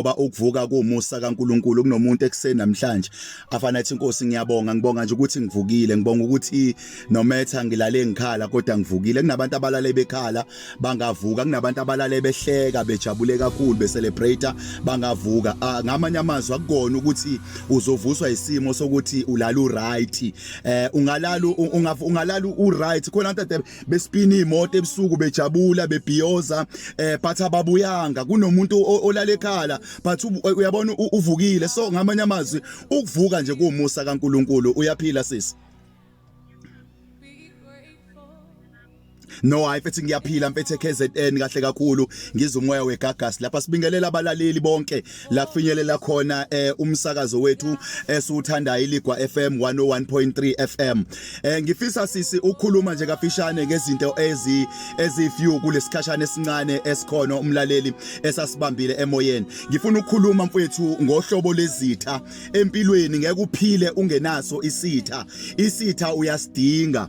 ngoba ukuvuka kuwumusa kaNkuluNkulu kunomuntu ekuseni namhlanje afana athi inkosi ngiyabonga ngibonga nje ukuthi ngivukile ngibonga ukuthi nometha ngilale ngikhala kodwa ngivukile kunabantu abalale bekhala bangavuka kunabantu abalale behleka bejabule kakhulu becelebrate bangavuka ah, ngamanye amazwi akukona ukuthi uzovuswa isimo sokuthi ulala uright eh ungalala ungalala uright khona besipina imoto ebusuku bejabula bebhiyoza eh but ababuyanga kunomuntu olale ekhala but uyabona uvukile so ngamanye amazwi ukuvuka nje kuumusa kaNkuluNkulu uyaphila sisi no hayi mfethu ngiyaphila mfethu eKZN kahle kakhulu ngizomoya wegagas lapha sibingelela abalaleli bonke la finyelela khona eh umsakazo wethu esiwuthanda iligwa FM 101.3 FM eh ngifisa sisi ukhuluma nje kafishane ngezinto ezi ezifew kulesikhashana esincane esikhona umlaleli esasibambile emoyeni ngifuna ukukhuluma mfethu ngohlobo lezitha empilweni ngeke uphile ungenaso isitha isitha uyasidinga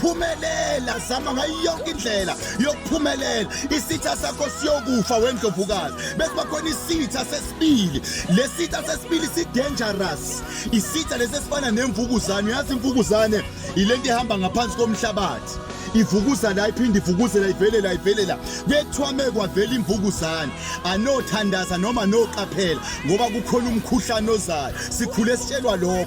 phumelela zama ngayo yonke indlela yokuphumelela isitha sakho siyokufa wendlovukazi bese bakhona isitha sesibili lesitha sesibili sidangerous isitha lesesifana nemvukuzane uyazi imvukuzane ilento ihamba ngaphansi komhlabathi ivukuza la iphinde ivukuze la ivele la ivele la kuyethwame kwavela imvukuzane anothandaza noma noqaphela ngoba kukhona umkhuhlane ozayo sikhule sitshelwa lokho